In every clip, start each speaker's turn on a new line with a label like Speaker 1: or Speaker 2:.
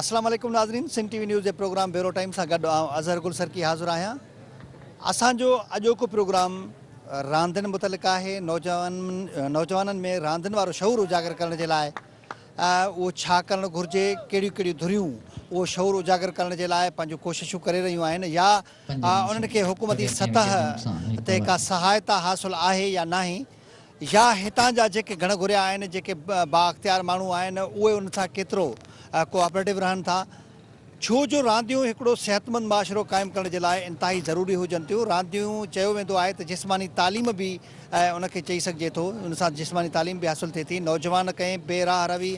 Speaker 1: اسلام عليڪم
Speaker 2: ناظرين سنڌ ٽي وي نيوز جي پروگرام بيورو ٽائيم سان گڏ آئون اظهر گل سرڪي حاضر آهيان اسان جو اڄوڪو پروگرام راندين متعلق آهي نوجوان نوجوانن ۾ راندين وارو شعور اجاگر ڪرڻ جي لاء اهو ڇا ڪرڻ گهرجي، ڪهڙيون ڪهڙيون ڌريون اهو شعور اجاگر ڪرڻ جي لاء پنهنجون ڪوششون ڪري رهيون آهن يا انهن کي حڪومتي سطح تي ڪا سهائتا حاصل آهي يا ناهي يا هتان جا جيڪي گهڻ گهريا آهن، جيڪي بااختيار ماڻهو آهن اهي انهن سان ڪيترو ڪوآپريٽو رهن ٿا. ڇو جو رانديون هڪڙو صحتمند معاشرو قائم ڪرڻ جي لاء انتهائي ضروري هجن ٿيون. رانديون چيو ويندو آهي ته جسماني تعليم به ان کي چئي سگهجي ٿو. ان سان جسماني تعليم به حاصل ٿئي ٿي. نوجوان ڪنهن بي راهه روي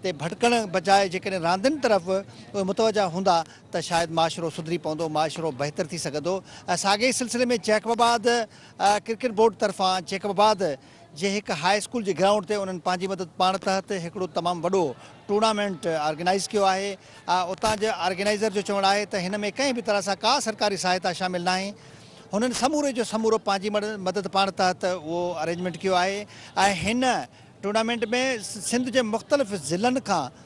Speaker 2: تي ڀٽڪڻ بجاء جيڪڏهن راندين طرف اهي متوجهه هوندا ته شايد معاشرو سڌري پوندو، معاشرو بهتر ٿي سگهندو. ساڳئي سلسلي ۾ جيڪب آباد ڪرڪيٽ بورڊ طرفان جيڪب آباد جي هڪ هاء اسڪول جي گرائونڊ تي انهن پنهنجي مدد پاڻ تحت هڪڙو تمام وڏو ٽورنامينٽ آرگنائيز ڪيو آهي اتان جي آرگنائيزر جو چوڻ آهي ته هن ۾ ڪنهن به طرح سان ڪا سرڪاري سهائتا شامل ناهي هنن سموري جو سمورو پنهنجي مدد پاڻ تحت اهو ارينجمينٽ ڪيو آهي ۽ هن ٽورنامينٽ ۾ سنڌ جي مختلف ضلعن کان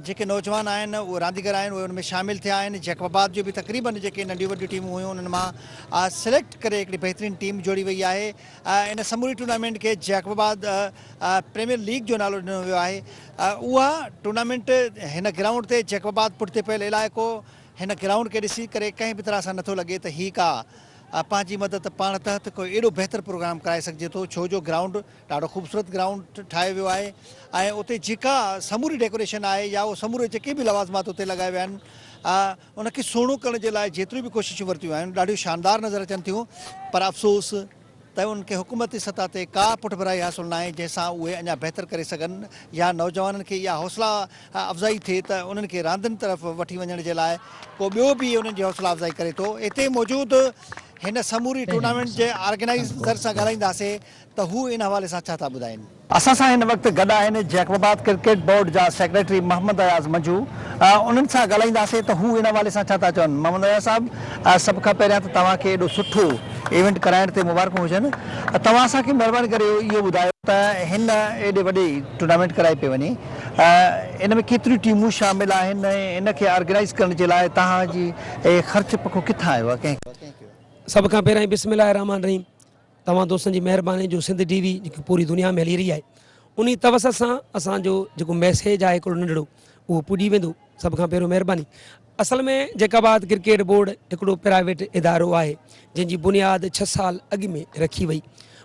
Speaker 2: جيڪي نوجوان آهن اهي رانديگر آهن اهي ان ۾ شامل ٿيا آهن جيڪب آباد جو به تقريبن جيڪي ننڍيون وڏيون ٽيمون هيون انهن مان سليڪٽ ڪري هڪڙي بهترين ٽيم جوڙي وئي آهي ان سموري ٽورنامينٽ کي جيڪب آباد پريميئر ليگ جو نالو ڏنو ويو آهي اها ٽورنامينٽ هن گرائونڊ تي جيڪب آباد پٺتي پيل علائقو هن گرائونڊ کي ڏسي ڪري ڪنهن به طرح سان نٿو لڳي ته هي ڪا پنهنجي مدد پاڻ تحت ڪو اهڙو بهتر پروگرام ڪرائي سگهجي ٿو ڇو جو گرائونڊ ڏاڍو خوبصورت گرائونڊ ٺاهيو ويو آهي ۽ اتي جيڪا سموري ڊيڪوريشن آهي يا اهو سموري جيڪي به لوازمات اتي لڳايا ويا آهن ان کي سهڻو ڪرڻ جي لاء جيتريون به ڪوششون ورتيون آهن ڏاڍيون شاندار نظر اچن ٿيون پر افسوس ته انهن کي حڪومتي سطح تي ڪا پٺڀرائي حاصل ناهي جنهن سان اهي اڃا بهتر ڪري سگهن يا نوجوانن کي اها حوصلا افزائي ٿئي ته انهن کي راندين طرف وٺي وڃڻ جي لاء ڪو ٻيو به انهن جي حوصلا افزائي ڪري ٿو. اتي موجود هن سموري ٽورنامينٽ جي آرگنائيزر سان ڳالهائينداسين ته هو ان حوالي سان ڇا ٿا ٻڌائين. اسان سان هن وقت گڏ آهن جيڪب آباد ڪرڪيٽ بورڊ جا سيڪريٽري محمد اياز منجو انهن سان ڳالهائينداسين ته هو ان حوالي سان ڇا ٿا چون محمد اياز صاحب سڀ کان پهريان ته توهان کي ايڏو سٺو ايونٽ ڪرائڻ تي مبارڪون هجن توهان اسان کي مهرباني ڪري اهو ٻڌايو ته هن ايڏي وڏي ٽورنامينٽ ڪرائي پئي وڃي ان ۾ ڪيتريون ٽيمون شامل آهن ۽ ان کي آرگنائيز ڪرڻ جي لاء توهان جي اهي خرچ پکو ڪٿان آيو ڪنهن سڀ کان پهريان
Speaker 3: بسم الله الرحمٰن الرحيم توهان دوستن جي مهرباني جو سنڌ ٽي وي جيڪي پوري دنيا ۾ هلي رهي آهي انهي توسط سان اسان جو جيڪو ميسيج آهي هڪڙو ننڍڙو اهو پڄي ويندو سڀ کان پهريون مهرباني اصل ۾ جيڪ آباد ڪرڪيٽ بورڊ هڪڙو پرائيويٽ ادارو آهي جنهن جي بنياد ڇهه سال اڳ ۾ رکي وئي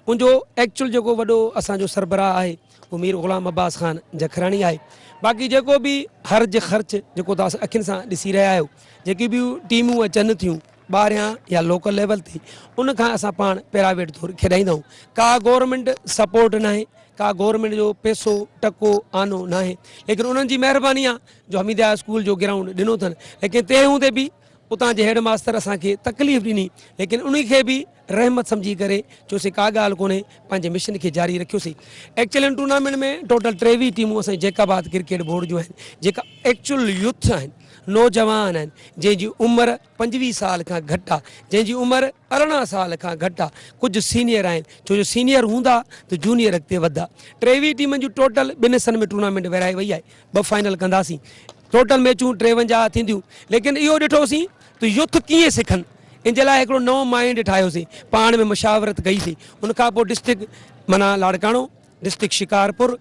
Speaker 3: ان جو ايڪچوئل جيڪو وڏو اسان جو سربراهه آهي اهو مير غلام عباس خان جکراڻي آهي باقي جيڪو به حرج خرچ جيڪو توهان اکين سان ڏسي رهيا آهيو جيڪي به ٽيمون اچن ٿيون ٻاهريان يا لوڪل ليول تي ان کان اسان پاڻ پرائيويٽ طور کيڏائيندا آهيون ڪا گورنمينٽ سپورٽ ناهي ڪا گورنمينٽ جو پيسو ٽڪو آنو ناهي ليڪن انهن جي مهرباني آ جو حميدي هاء اسڪول جو گرائونڊ ڏنو اٿن ليڪن تنهن هوندي به اتان جي هيڊ ماستر اسان کي تڪليف ڏني ليڪن انهي کي به رحمت سمجهي ڪري چيوسين ڪا ڳالهه ڪونهي پنهنجي مشن کي جاري رکيوسين ايڪچلين ٽورنامينٽ ۾ ٽوٽل ٽيويهه ٽيمون اسان جي جيڪب آباد ڪرڪيٽ بورڊ جون آهن جيڪا ايڪچل يوٿ آهن نوجوان آهن جنهن جي عمر پنجويهه سال کان گهٽ آهي جنهن جي عمر ارڙهن سال کان گهٽ آهي ڪجهه سينيئر آهن ڇو جو سينيئر هوندا ته جونيئر اڳتي وڌدا ٽيويهه ٽيمن جون ٽوٽل ٻن حصن ۾ ٽورنامينٽ ورهائي وئي آهي ٻه فائنل ڪنداسين ٽوٽل ميچون ٽيونجاهه ٿينديون ليڪن اهو ڏٺوسين ته يوٿ ڪيئن سکن ان جي لاء هڪڙو نئون مائنڊ ٺاهيوسين پاڻ ۾ مشاورت ڪئي سين ان کان پوء ڊسٽرڪٽ منا Larkana district Shikarpur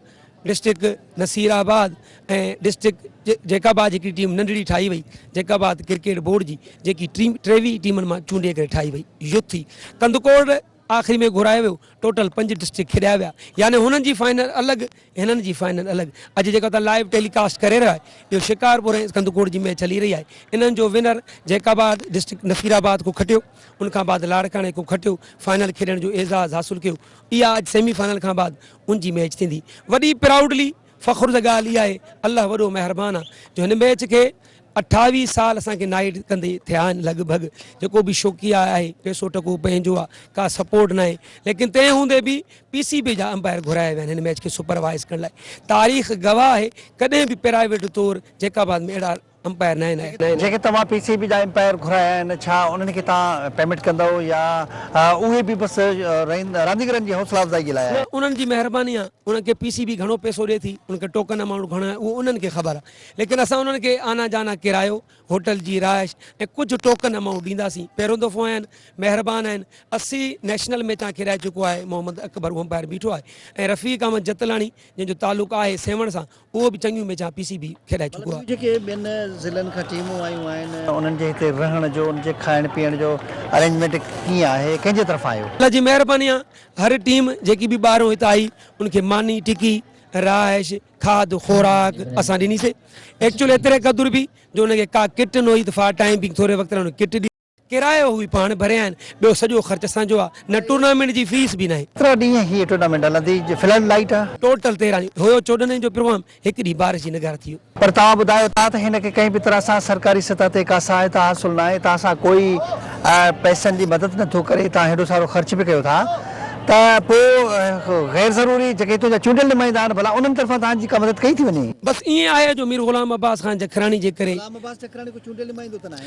Speaker 3: district Nasirabad ۽ district Jacobabad هڪڙي ٽيم ننڍڙي ٺاهي وئي جيڪب آباد ڪرڪيٽ بورڊ جي جيڪي ٽيم ٽيوي ٽيمن مان چونڊي ڪري ٺاهي وئي يوٿ ٿي ڪنڌڪوٽ آخري ۾ گهرايو ويو ٽوٽل پنج ڊسٽرڪٽ کيڏايا ويا يعني هنن جي فائنل الڳ هنن جي فائنل الڳ اڄ جيڪا توهان لائيو ٽيلي ڪاسٽ ڪري رهيا آهيو اهو شڪارپور ۽ اسڪندڪوٽ جي ميچ هلي رهي آهي انهن جو winner Jacobabad district Nasirabad کان کٽيو ان کان بعد لاڙڪاڻي کان کٽيو فائنل کيڏڻ جو اعزاز حاصل ڪيو اها اڄ سيمي فائنل کان بعد ان جي ميچ ٿيندي وڏي پرائوڊلي فخر جي ڳالهه اها آهي الله وڏو مهربان آهي جو هن ميچ کي اٺاويهه سال اسان کي نائيٽ ڪندي ٿيا آهن لڳ ڀڳ جيڪو به شوقي آهي پيسو ٽڪو پنهنجو آهي ڪا سپورٽ ناهي ليڪن تنهن هوندي به پي سي بي جا امپائر گهرايا ويا آهن هن ميچ کي سپروائز ڪرڻ لاء تاريخ گواهه آهي ڪڏهن به پرائيويٽ طور جيڪاباد ۾ اهڙا امپائر ناهن اهي جيڪي توهان پي سي بي
Speaker 2: جا امپائر گهرايا آهن ڇا انهن کي توهان پيمينٽ ڪندؤ يا اهي به بس رانديگرن جي حوصلا افزائي جي لاء آهي. انهن جي مهرباني آهي
Speaker 3: انهن کي پي سي بي گهڻو پئسو ڏي ٿي انهن کي ٽوڪن امائونٽ گهڻو آهي اهو انهن کي خبر آهي ليڪن اسان انهن کي آنا جانا ڪرايو هوٽل جي رهائش ۽ ڪجهه ٽوڪن امائونٽ ڏينداسين پهريون دفعو آيا آهن مهربان آهن اسي نيشنل ميچ تان کيڏائي چڪو آهي محمد اڪبر امپائر بيٺو آهي ۽ رفيق احمد جتلاڻي جنهن جو تعلق آهي سيوهڻ سان اهو به چڱيون ميچون پي سي بي کيڏائي چڪو آهي. جيڪي ٻين ضلعن
Speaker 2: کان ٽيمون آيون آهن. انهن جي هتي رهڻ جو انهن جي کائڻ پيئڻ جو ارينجمينٽ ڪيئن آهي ڪنهن جي طرفان اهو. الله جي مهرباني آهي
Speaker 3: هر ٽيم جيڪي به ٻاهرون هت آئي ان کي ماني ٽڪي رهائش کاڌ خوراڪ اسان ڏني سي ايڪچوئل ايتري قدر به جو ان کي ڪا ڪٽ نه هئي ته فار ٽائيم بينگ ٿوري وقت لاء ان کي ڪٽ ڏي ڪرايو هو به پاڻ ڀريائين، ٻيو سڄو خرچ اسان جو آ، نه ٽورنامينٽ جي فيس به ناهي. ڪيترا ڏينهن هيء ٽورنامينٽ
Speaker 2: هلندي جي فلڊ لائيٽ آ؟ ٽوٽل تيرهن ڏينهن هيو
Speaker 3: چوڏهن ڏينهن جو پروگرام، هڪ ڏينهن بارش جي نگار ٿي ويو. پر توهان ٻڌايو ٿا ته
Speaker 2: هن کي ڪنهن به طرح سان سرڪاري سطح تي ڪا سهائتا حاصل ناهي، هتان سان ڪوئي پئسن جي مدد نه ٿو ڪري، هتان هيڏو سارو خرچ به ڪيو ٿا ته پو غير ضروري جيڪي هتون جا چونڊيل نمائندا آهن ڀلا انهن طرفان توهان جي ڪا مدد ڪئي ٿي وڃي؟ بس ائين آهي جو مير
Speaker 3: غلام عباس خان جکراڻي جي ڪري. غلام عباس جکراڻي ڪو چونڊيل نمائندو ته ناهي.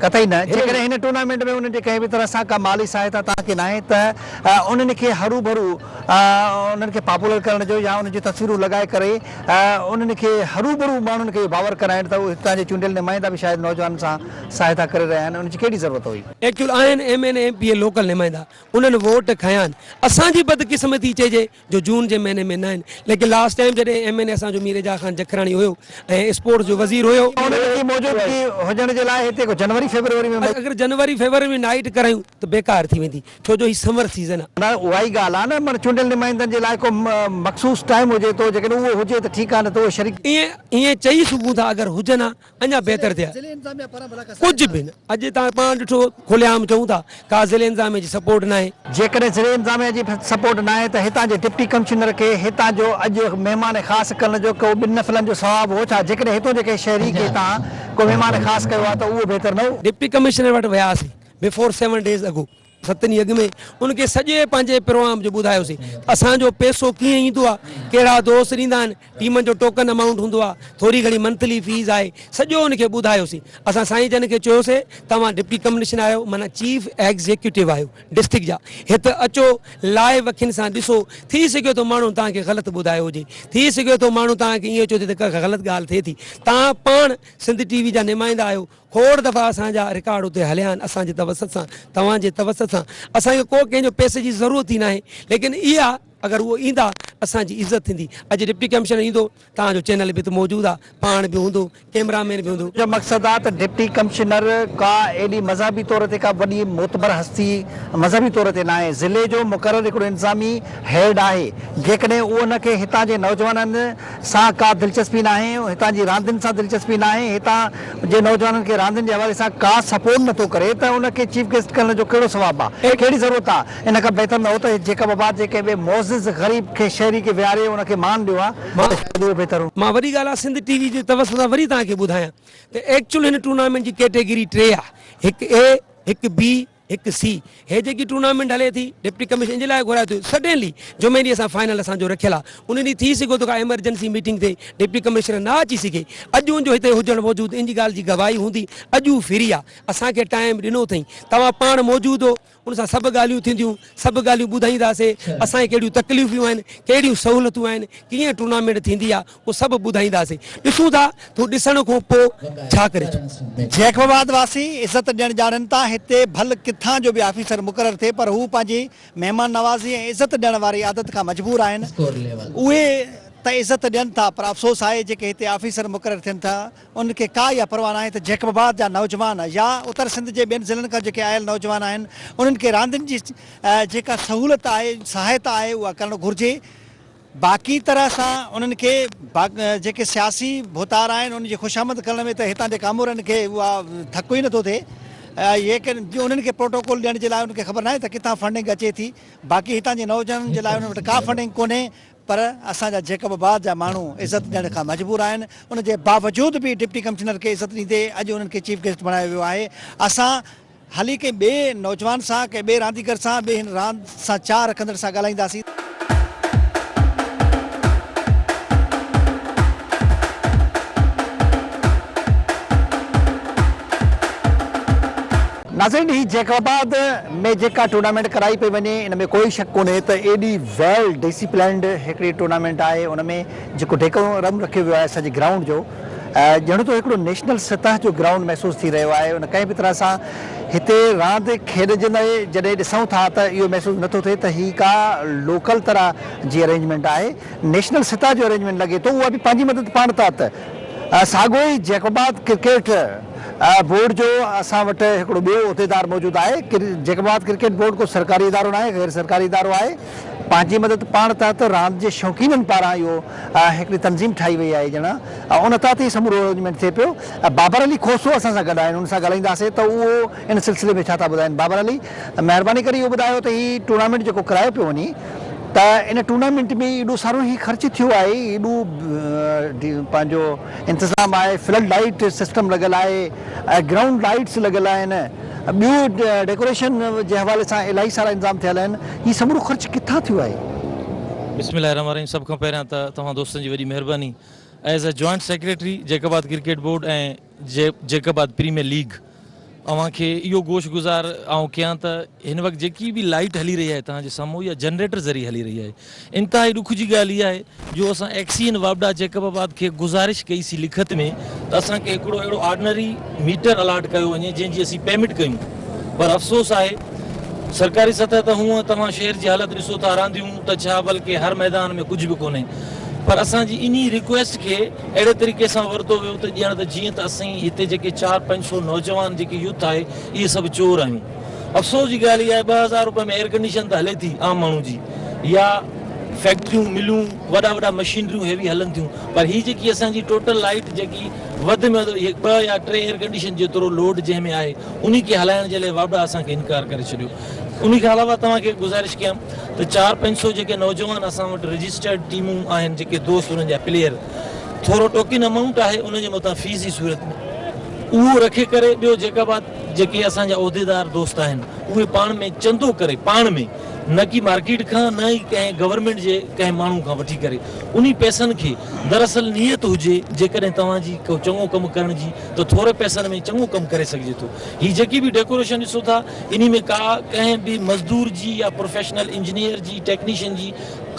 Speaker 3: قطعي نه، جيڪڏهن
Speaker 2: هن ٽورنامينٽ ۾ انهن جي ڪنهن به طرح سان ڪا مالي سهائتا توهان کي ناهي ته انهن کي هروڀرو انهن کي پاپولر ڪرڻ جو يا انهن جون تصويرون لڳائي ڪري انهن کي هروڀرو ماڻهن کي اهو باور ڪرائڻ ته هتان جي چونڊيل نمائندا به شايد نوجوانن سان سهائتا ڪري رهيا آهن انهن جي ڪهڙي ضرورت هئي. ايڪچوئل آهن M N
Speaker 3: A M P A local نمائندا انهن ووٽ کنيا آهن اسان جي بدقسمتي چئجي جو جون جي مهيني ۾ ناهن ليڪن لاسٽ ٽائيم جڏهن ايم اين اي اسان جو مير اعجاز خان جکراڻي هيو ۽ اسپورٽس جو وزير هيو. انهن جي موجودگي
Speaker 2: هجڻ جي لاء هتي ڪو جنوري فيبروري ۾. اگر جنوري فيبروري ۾
Speaker 3: نائيٽ ڪرايون ته بيڪار ٿي ويندي ڇو جو هي سمر سيزن آ. نه اها ئي ڳالهه آ نه معني
Speaker 2: چونڊيل نمائندن جي لاء ڪو مخصوص ٽائيم هجي ٿو جيڪڏهن اهو هجي ته ٺيڪ آ نه ته اهي شريڪ. ائين ائين چئي
Speaker 3: سگهون ٿا اگر هجن ها. اڃا بهتر ٿئي ها ڪجهه به نه اڄ تان پاڻ ڏٺو کلي عام چئون ٿا ڪا ضلعي انتظاميه جي سپورٽ ناهي. جيڪڏهن ضلعي انتظاميه
Speaker 2: جي سپورٽ ناهي ته هتان جي ڊپٽي ڪمشنر کي هتان جو اڄ مهمان خاص ڪرڻ جو ڪو ٻن نفلن جو ثواب هو ڇا جيڪڏهن هتون جي ڪنهن شهري کي تان ڪو مهمان خاص ڪيو ها ته اهو بهتر نه هو. ڊپٽي ڪمشنر وٽ وياسين
Speaker 3: بفور سيون ڊيز اڳو ستني اڳ ۾ ان کي سڄي پنهنجي پروام جو ٻڌايوسين ته اسان جو پيسو ڪيئن ايندو آهي، ڪهڙا دوست ڏيندا آهن، ٽيمن جو ٽوڪن امائونٽ هوندو آهي، ٿوري گهڻي منٿلي فيس آهي، سڄو ان کي ٻڌايوسين. اسان سائين جن کي چيوسين توهان ڊپٽي ڪمنشنر آهيو معنيٰ چيف ايگزيڪيوٽو آهيو ڊسٽرڪٽ جا، هت اچو لائيو اکين سان ڏسو، ٿي سگهي ٿو ماڻهن توهان کي غلط ٻڌايو هجي، ٿي سگهي ٿو ماڻهو توهان کي ايئن چوي ته ڪا غلط ڳالهه ٿئي ٿي، توهان پاڻ سنڌ ٽي وي جا نمائندا آهيو، کوڙ دفعا اسان جا رڪارڊ اتي هليا آهن اسان جي توسط سان توهان جي توسط سان اسان کي ڪو ڪنهن جو پئسي جي ضرورت ئي ناهي ليڪن اها اگر اهو ايندا اسان جي عزت ٿيندي اڄ ڊپٽي ڪمشنر ايندو توهان جو چينل به اتي موجود آ پاڻ به هوندو ڪيمرا مين به هوندو. منهنجو مقصد آ ته ڊپٽي
Speaker 2: ڪمشنر ڪا ايڏي مذهبي طور تي ڪا وڏي معتبر هستي مذهبي طور تي ناهي ضلعي جو مقرر هڪڙو انتظامي هيڊ آهي جيڪڏهن اهو ان کي هتان جي نوجوانن سان ڪا دلچسپي ناهي، هتان جي راندين سان دلچسپي ناهي، هتان جي نوجوانن کي راندين جي حوالي سان ڪا سپورٽ نٿو ڪري ته ان کي چيف گيسٽ ڪرڻ جو ڪهڙو ثواب آ؟ ڪهڙي ضرورت آ؟ ان کان بهتر نه هو ته جيڪب آباد جي ڪنهن ٻئي معزز غريب کي شهري کي ويهاري ان کي مان ڏيو ها ته شايد اهو بهتر هو. مان وڏي ڳالهه آ سنڌ ٽي وي
Speaker 3: جي توسط سان وري توهان کي ٻڌايان ته ايڪچوئل هن ٽورنامينٽ جي ڪيٽيگري ٽي آ، هڪ اي، هڪ بي، هڪ سي هي جيڪي ٽورنامينٽ هلي ٿي ڊپٽي ڪمشنر ان جي لاء گهرايو ٿيو سڊنلي جمعي ڏينهن اسان فائنل اسان جو رکيل آهي ان ڏينهن ٿي سگهو ٿو ڪا ايمرجنسي ميٽنگ تي ڊپٽي ڪمشنر نه اچي سگهي اڄ ان جو هتي هجڻ موجود ان جي ڳالهه جي گواهي هوندي اڄ هو فري آهي اسان کي ٽائيم ڏنو اٿئين توهان پاڻ موجود هو ان سان سڀ ڳالهيون ٿينديون سڀ ڳالهيون ٻڌائينداسي اسان کي ڪهڙيون تڪليفيون آهن ڪهڙيون سهولتون آهن ڪيئن ٽورنامينٽ ٿيندي آهي اهو سڀ ٻڌائينداسين. ڏسون ٿا ته هو ڏسڻ کان پوء ڇا ڪري ٿو. جيڪب آباد
Speaker 2: واسي عزت ڏيڻ ڄاڻن ٿا. هتي ڀل ڪٿان جو به آفيسر مقرر ٿئي پر هو پنهنجي مهمان نوازي ۽ عزت ڏيڻ واري عادت کان مجبور آهن. اهي ته عزت ڏين ٿا پر افسوس آهي جيڪي هتي آفيسر مقرر ٿين ٿا انهن کي ڪا اها پرواهه ناهي ته جيڪب آباد جا نوجوان يا اتر سنڌ جي ٻين ضلعن کان جيڪي آيل نوجوان آهن انهن کي راندين جي جيڪا سهولت آهي سهائتا آهي اها ڪرڻ گهرجي. باقي طرح سان انهن کي جيڪي سياسي ڀوتار آهن ان جي خوشامد ڪرڻ ۾ ته هتان جي ڪامورن کي اها ڌڪ ئي نٿو ٿئي يقين جو انهن کي پروٽوڪول ڏيڻ جي لاء انهن کي خبر ناهي ته ڪٿان فنڊنگ اچي ٿي باقي هتان جي نوجوانن جي لاء انهن وٽ ڪا فنڊنگ ڪونهي پر اسان جا جيڪب آباد جا ماڻهو عزت ڏيڻ کان مجبور آهن ان جي باوجود به ڊپٽي ڪمشنر کي عزت ڏيندي اڄ انهن کي چيف گيسٽ بڻايو ويو آهي اسان هلي ڪنهن ٻئي نوجوان سان، ڪنهن ٻئي رانديگر سان به هن راند سان چاهه رکندڙن سان ڳالهائينداسين. ناظرين هي جيڪب آباد ۾ جيڪا ٽورنامينٽ ڪرائي پئي وڃي ان ۾ ڪوئي شڪ ڪونهي ته ايڏي ويل ڊيسيپلنڊ هڪڙي ٽورنامينٽ آهي ان ۾ جيڪو ڊيڪورم رکيو ويو آهي سڄي گرائونڊ جو ڄڻ ته هڪڙو نيشنل سطح جو گرائونڊ محسوس ٿي رهيو آهي ان ڪنهن به طرح سان هتي راند کيڏجندي جڏهن ڏسون ٿا ته اهو محسوس نه ٿو ٿئي ته هي ڪا لوڪل طرح جي ارينجمينٽ آهي نيشنل سطح جو ارينجمينٽ لڳي ٿو اها به پنهنجي مدد پاڻ تحت ته ساڳو ئي جيڪوبات ڪرڪيٽ بورڊ جو اسان وٽ هڪڙو ٻيو عهديدار موجود آهي جيڪوبات ڪرڪيٽ بورڊ ڪو سرڪاري ادارو ناهي غير سرڪاري ادارو آهي. پنهنجي مدد پاڻ تحت راند جي شوقينن پاران اهو هڪڙي تنظيم ٺاهي وئي آهي ڄڻا ان تحت هي سمورو ارينجمينٽ ٿئي پيو بابر علي کوسو اسان سان گڏ آهن ان سان ڳالهائينداسين ته اهو ان سلسلي ۾ ڇا ٿا ٻڌائين بابر علي مهرباني ڪري اهو ٻڌايو ته هي ٽورنامينٽ جيڪو ڪرايو پيو وڃي ته ان ٽورنامينٽ ۾ ايڏو سارو هي خرچ ٿيو آهي ايڏو پنهنجو انتظام آهي، فلڊ لائيٽ سسٽم لڳل آهي، گرائونڊ لائيٽس لڳل آهن، ٻيو ڊيڪوريشن جي حوالي سان الاهي سارا انتظام ٿيل آهن، هي سمورو خرچ ڪٿان ٿيو آهي؟ بسم الله الرحمن الرحيم سڀ کان
Speaker 4: پهريان ته توهان دوستن جي وڏي مهرباني as a joint secretary Jacobabad cricket board ۽ Jacobabad premier league. اوهان کي اهو گوش گذار آئون ڪيان ته هن وقت جيڪي به لائيٽ هلي رهي آهي توهان جي سامهون اها جنريٽر ذريعي هلي رهي آهي انتهائي ڏک جي ڳالهه اها آهي جو اسان ايڪس اي اين واپڊا جيڪب آباد کي گذارش ڪئي سي لکت ۾ ته اسان کي هڪڙو اهڙو آرڊنري ميٽر الاٽ ڪيو وڃي جنهن جي اسين پيميٽ ڪيون پر افسوس آهي سرڪاري سطح ته هونء توهان شهر جي حالت ڏسو ٿا رانديون ته ڇا بلڪه هر ميدان ۾ ڪجهه به ڪونهي پر اسان جي انهي ريڪويسٽ کي اهڙي طريقي سان ورتو ويو ته ڄڻ ته جيئن ته اسين هتي جيڪي چار پنج سو نوجوان جيڪي يوٿ آهي اهي سڀ چور آهيون. افسوس جي ڳالهه اها آهي ٻه هزار روپين ۾ ايئرڪنڊيشن ته هلي ٿي عام ماڻهو جي يا فيڪٽريون ملون وڏا وڏا مشينريون هيوي هلن ٿيون پر هي جيڪي اسان جي ٽوٽل لائيٽ جيڪي وڌ ۾ وڌ ٻه يا ٽي ايئرڪنڊيشن جيترو لوڊ جنهن ۾ آهي انهي کي هلائڻ جي لاء وابڊا اسان کي انڪار ڪري ڇڏيو. انهي کان علاوه توهان کي گذارش ڪيان ته چار پنج سو جيڪي نوجوان اسان وٽ رجسٽرڊ ٽيمون آهن جيڪي دوست انهن جا پليئر ٿورو ٽوڪن امائونٽ آهي انهن جي مٿان فيس جي صورت ۾ اهو رکي ڪري ٻيو جيڪا بات جيڪي اسان جا عهديدار دوست آهن اهي پاڻ ۾ چندو ڪري پاڻ ۾ نه ڪي مارڪيٽ کان نه ئي ڪنهن گورنمينٽ جي ڪنهن ماڻهو کان وٺي ڪري انهي پئسن کي دراصل نيت هجي جيڪڏهن توهان جي ڪو چڱو ڪم ڪرڻ جي ته ٿوري پئسن ۾ چڱو ڪم ڪري سگهجي ٿو هي جيڪي به ڊيڪوريشن ڏسو ٿا انهي ۾ ڪا ڪنهن به مزدور جي يا پروفيشنل انجنيئر جي ٽيڪنيشن جي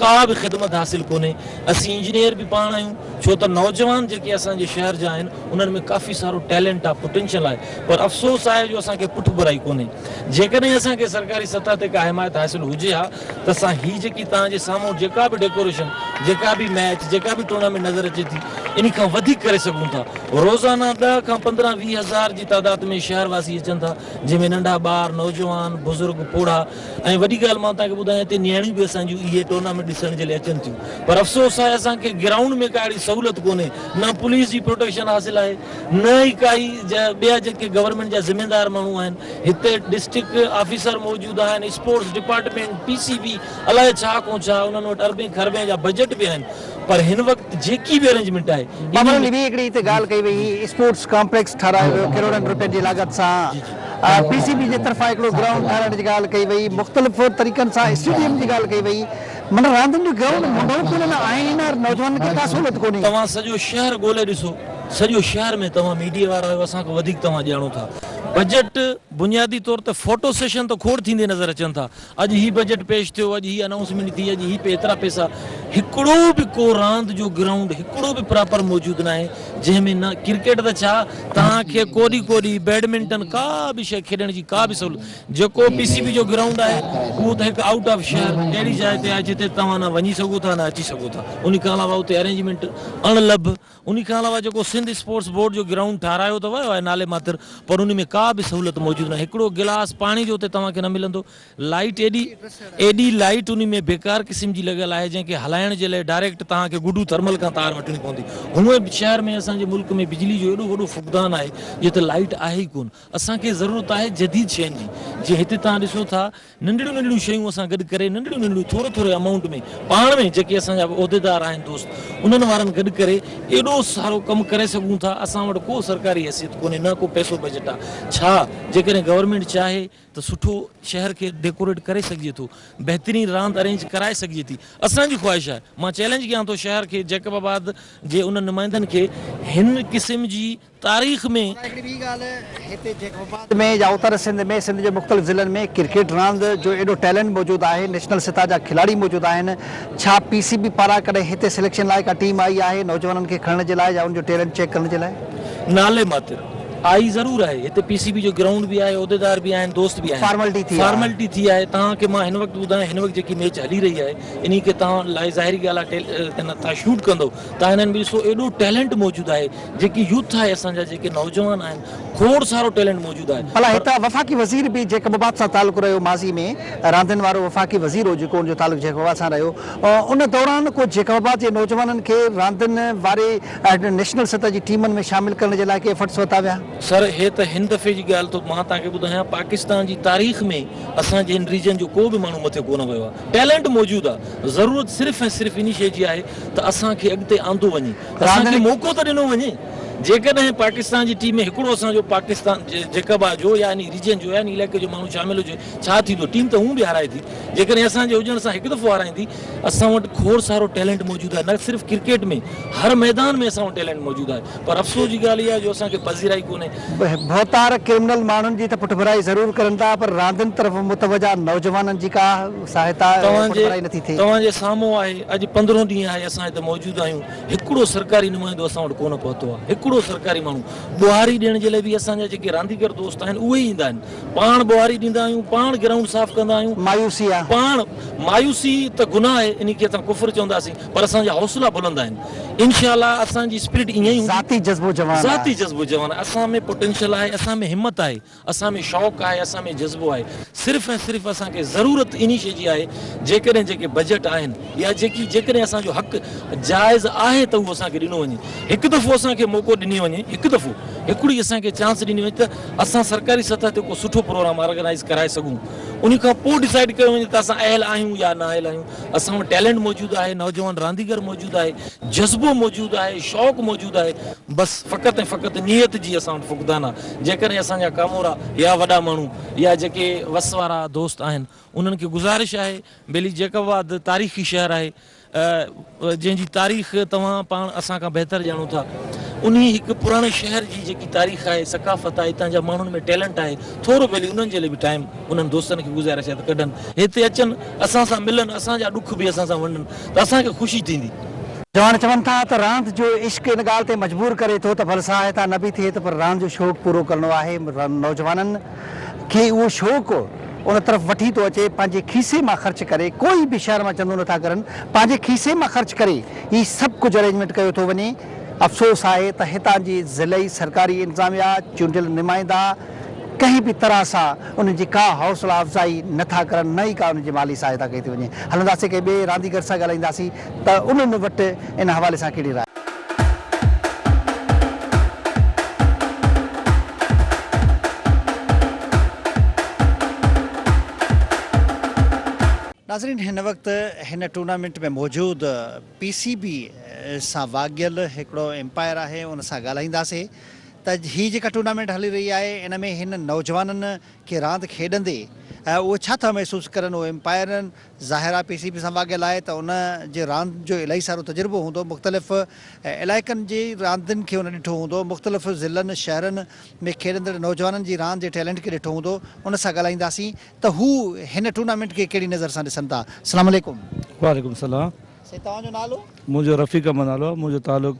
Speaker 4: ڪا به خدمت حاصل ڪونهي اسين انجنيئر به پاڻ آهيون ڇو ته نوجوان جيڪي اسان جي شهر جا آهن انهن ۾ ڪافي سارو ٽيلنٽ آهي پوٽينشل آهي پر افسوس آهي جو اسان کي پٺڀرائي ڪونهي جيڪڏهن اسان کي سرڪاري سطح تي ڪا حمايت حاصل هجي ها ته اسان هي جيڪي توهان جي سامهون جيڪا به ڊيڪوريشن جيڪا به ميچ جيڪا به ٽورنامينٽ نظر اچي ٿي انهي کان وڌيڪ ڪري سگهون ٿا روزانه ڏهه کان پندرهن ويهه هزار جي تعداد ۾ شهر واسي اچن ٿا جنهن ۾ ننڍا ٻار، نوجوان، بزرگ، پوڙها ۽ وڏي ڳالهه مان توهان کي ٻڌايان هتي نياڻيون به اسان جون اهي ٽورنامينٽ ڏسڻ جي لاء اچن ٿيون پر افسوس آهي اسان کي گرائونڊ ۾ ڪا اهڙي سهولت ڪونهي نه پوليس جي پروٽيڪشن حاصل آهي نه ئي ڪائي جا ٻيا جيڪي گورنمينٽ جا ذميدار ماڻهو آهن هتي ڊسٽرڪٽ آفيسر موجود آهن sports department P C B الائي ڇا ڪون ڇا انهن وٽ اربين کربين جا بجيٽ به آهن پر هن وقت جيڪي به ارينجمينٽ آهي انهي ۾ ٻي هڪڙي هتي
Speaker 2: ڳالهه ڪئي وئي اسپورٽس ڪامپليڪس ٺهرايو ويو ڪروڙن رپين جي لاڳت سان پي سي بي جي طرفان هڪڙو گرائونڊ ٺهرائڻ جي ڳالهه ڪئي وئي مختلف طريقن سان اسٽيڊيم جي ڳالهه ڪئي وئي معنيٰ راندين جو گرائونڊ منڍو ڪونه نه آهن ۽ نوجوانن کي ڪا سهولت ڪونهي. توهان سڄو شهر
Speaker 4: ڳولي ڏسو سڄو شهر ۾ توهان ميڊيا وارا آهيو اسان کان وڌيڪ توهان ڄاڻو ٿا بجيٽ بنيادي طور تي فوٽو سيشن ته کوڙ ٿيندي نظر اچن ٿا اڄ هي بجيٽ پيش ٿيو، اڄ هي انائونسمينٽ ٿي، اڄ هي ايترا پئسا، هڪڙو به ڪو راند جو گرائونڊ هڪڙو به پراپر موجود ناهي جنهن ۾ نه ڪرڪيٽ ته ڇا توهان کي ڪوڏي ڪوڏي بيڊمنٽن ڪا به شي کيڏڻ جي ڪا به سهولت جيڪو پي سي بي جو گرائونڊ آهي اهو ته هڪ آئوٽ آف شهر اهڙي جاء تي آهي جتي توهان نه وڃي سگهو ٿا نه اچي سگهو ٿا انهي کان علاوه اتي ارينجمينٽ اڻ لڀ انهي کان علاوه جيڪو سنڌ اسپورٽس بورڊ جو گرائونڊ ٺاهرايو ته ويو آهي نالي ماتر پر انهي ۾ ڪا به سهولت موجود ناهي هڪڙو گلاس پاڻي جو اتي توهان کي نه ملندو لائيٽ ايڏي ايڏي لائيٽ انهي ۾ بيڪار قسم جي لڳل آهي جنهن کي هلائڻ جي لئي ڊائريڪٽ توهان کي گڊو ٿرمل کان تار وٺڻي پوندي هونء به شهر ۾ اسان جي ملڪ ۾ بجلي جو ايڏو وڏو فقدان آهي جتي لائيٽ آهي ئي ڪون اسان کي ضرورت آهي جديد شين جي جيئن هتي توهان ڏسو ٿا ننڍڙيون ننڍڙيون شيون اسان گڏ ڪري ننڍڙيون ننڍڙيون ٿوري ٿوري امائونٽ ۾ پاڻ ۾ جيڪي اسان جا عهديدار آهن دوست انهن وارن گڏ ڪري ايڏو سارو ڪم ڪري سگهون ٿا اسان وٽ ڪو سرڪاري حيثيت ڪونهي نه ڪو پئسو بجٽ آ ڇا جيڪڏهن گورنمينٽ چاهي ته سٺو شهر کي ڊيڪوريٽ ڪري سگهجي ٿو بهترين راند ارينج ڪرائي سگهجي ٿي اسان جي خواهش آهي مان چئلينج ڪيان ٿو شهر کي جيڪب آباد جي انهن نمائندن کي هن قسم جي تاريخ ۾. ڀلا هڪڙي ٻي ڳالهه
Speaker 2: هتي جيڪب آباد ۾ يا اتر سنڌ ۾ سنڌ جي مختلف ضلعن ۾ ڪرڪيٽ راند جو ايڏو ٽيلنٽ موجود آهي نيشنل سطح جا کلاڙي موجود آهن ڇا پي سي بي پاران ڪڏهن هتي سليڪشن لاء ڪا ٽيم آئي آهي نوجوانن کي کڻڻ جي لاء يا ان جو ٽيلنٽ چيڪ ڪرڻ جي لاء. نالي ماتر
Speaker 4: آئي ضرور آهي هتي پي سي بي جو گرائونڊ به آهي عهديدار به آهن دوست به آهن فارملٽي ٿي آهي. فارملٽي ٿي آهي توهان کي مان هن وقت ٻڌايان هن وقت جيڪي ميچ هلي رهي آهي انهي کي توهان لاء ظاهري ڳالهه آهي ٽيل تنت ٿا شوٽ ڪندو توهان هنن ۾ ڏسو ايڏو ٽيلنٽ موجود آهي جيڪي يوٿ آهي اسان جا جيڪي نوجوان آهن کوڙ سارو ٽيلنٽ موجود آهي ڀلا پر. هتان وفاقي وزير
Speaker 2: به جيڪب آباد سان تعلق رهيو ماضي ۾ راندين وارو وفاقي وزير هو جيڪو ان جو تعلق جيڪب آباد سان رهيو ان دوران ڪو جيڪب آباد جي نوجوانن کي راندين واري نيشنل سطح جي ٽيمن ۾ شامل ڪرڻ جي لاء ڪي ايفرٽس ورتا ويا؟ سر هي ته هن
Speaker 4: دفعي جي ڳالهه ٿو مان توهان کي ٻڌايان پاڪستان جي تاريخ ۾ اسان جي هن ريجن جو ڪو به ماڻهو مٿي ڪونه ويو آهي ٽيلنٽ موجود آهي ضرورت صرف ۽ صرف انهي شيء جي آهي ته اسان کي اڳتي آندو وڃي اسان کي موقعو ته ڏنو وڃي، جيڪڏهن پاڪستان جي ٽيم ۾ هڪڙو اسان جو پاڪستان جي جيڪبا جو يا انهي ريجن جو يا انهي علائقي جو ماڻهو شامل هجي ڇا ٿيندو؟ ٽيم ته هونء به هارائي ٿي، جيڪڏهن اسان جي هجڻ سان هڪ دفعو هارائيندي. اسان وٽ کوڙ سارو ٽيلنٽ موجود آهي، نه صرف ڪرڪيٽ ۾ هر ميدان ۾ اسان وٽ ٽيلنٽ موجود آهي، پر افسوس جي ڳالهه اها آهي جو اسان کي پذيرائي ڪونهي. ڀوتار
Speaker 2: ڪرمنل ماڻهن جي ته پٺڀرائي ضرور ڪرن ٿا پر راندين طرف متوجهه نوجوانن جي ڪا ساهتا توهان رپورٽ جي ڀرائي نٿي ٿئي. توهان جي سامهون آهي
Speaker 4: اڄ پندرهون ڏينهن آهي اسان هتي موجود آهيون هڪڙو سرڪاري نمائندو اسان وٽ ڪونه پهتو آهي هڪڙو سرڪاري ماڻهو ٻهاري ڏيڻ جي لاء به اسان جا جيڪي رانديگر دوست آهن اهي ئي ايندا آهن پاڻ ٻهاري ڏيندا آهيون پاڻ گرائونڊ صاف ڪندا آهيون مايوسي آ. پاڻ
Speaker 2: مايوسي
Speaker 4: ته گناهه آهي انهي کي اسان ڪفر چونداسين پر اسان جا حوصلا بلند آهن انشاء الله اسان جي اسپرٽ ائين ئي هوندي ذاتي جذبو جوان آ. ذاتي
Speaker 2: جذبو جوان آهي
Speaker 4: اسان ۾ پوٽينشل آهي اسان ۾ همت آهي اسان ۾ شوق آهي، اسان ۾ جذبو آهي، صرف ۽ صرف اسان کي ضرورت انهي شيء جي آهي، جيڪڏهن جيڪي بجيٽ آهن يا جيڪي جيڪڏهن اسان جو حق جائز آهي ته اهو اسان کي ڏنو وڃي، هڪ دفعو اسان کي موقعو ڏني وڃي، هڪ دفعو هڪڙي اسان کي چانس ڏني وڃي ته اسان سرڪاري سطح تي ڪو سٺو پروگرام آرگنائيز ڪرائي سگهون، انهي کان پوء ڊسائيڊ ڪيو وڃي ته اسان اهل آهيون يا نااهل آهيون، اسان وٽ ٽيلنٽ موجود آهي، نوجوان رانديگر موجود آهي، جذبو موجود آهي، شوق موجود آهي، بس فقط ۽ فقط نيت جي اسان وٽ فقدان آهي، جيڪڏهن اسان جا ڪامورا يا وڏا ماڻهو يا جيڪي وس وارا دوست آهن انهن کي گذارش آهي بيلي جيڪب آباد تاريخي شهر آهي جنهن جي تاريخ توهان پاڻ اسان کان بهتر ڄاڻو ٿا انهي هڪ پراڻي شهر جي جيڪي تاريخ آهي ثقافت آهي اتان جا ماڻهن ۾ ٽيلنٽ آهي ٿورو بيلي انهن جي لاء به ٽائيم انهن دوستن کي گذارش آهي ته ڪڏھن هتي اچن، اسان سان ملن، اسان جا ڏک به اسان سان ونڊن ته اسان کي خوشي ٿيندي. جوان چون ٿا
Speaker 2: ته راند جو عشق ان ڳالهه تي مجبور ڪري ٿو ته ڀل ساهه هتان نه به ٿئي ته پر راند جو شوق پورو ڪرڻو آهي. نوجوانن کي اهو شوق ان طرف وٺي ٿو اچي پنهنجي کيسي مان خرچ ڪري ڪوئي به شهر مان چندو نه ٿا ڪرن پنهنجي کيسي مان خرچ ڪري ئي سڀ ڪجهه ارينجمينٽ ڪيو ٿو وڃي. افسوس آهي ته هتان جي ضلعي سرڪاري انتظاميا، چونڊيل نمائندا، ڪنهن به طرح سان انهن جي ڪا حوصلا افزائي نه ٿا ڪرن نه ئي ڪا انهن جي مالي سهائتا ڪئي ٿي وڃي. هلنداسين ڪنهن ٻئي رانديگر سان ڳالهائينداسين ته انهن وٽ ان حوالي سان ڪهڙي راء آهي. ناظرين هن وقت هن ٽورنامينٽ ۾ موجود پي سي بي سان واڳيل هڪڙو امپائر آهي ان سان ڳالهائينداسين ته هي جيڪا ٽورنامينٽ هلي رهي آهي ان ۾ هن نوجوانن کي راند کيڏندي اهي ڇا ٿا محسوس ڪرن اهو امپائرن ظاهر آهي پي سي بي سان واڳيل آهي ته ان جي راند جو الائي سارو تجربو هوندو مختلف علائقن جي راندين کي هن ڏٺو هوندو مختلف ضلعن شهرن ۾ کيڏندڙ نوجوانن جي راند جي ٽيلنٽ کي ڏٺو هوندو ان سان ڳالهائينداسين ته هو هن ٽورنامينٽ کي ڪهڙي نظر سان ڏسن ٿا سلام عليڪم. وعليڪم سلام. سائين توهان
Speaker 5: جو
Speaker 2: نالو. منهنجو رفيق احمد
Speaker 5: نالو آهي منهنجو تعلق.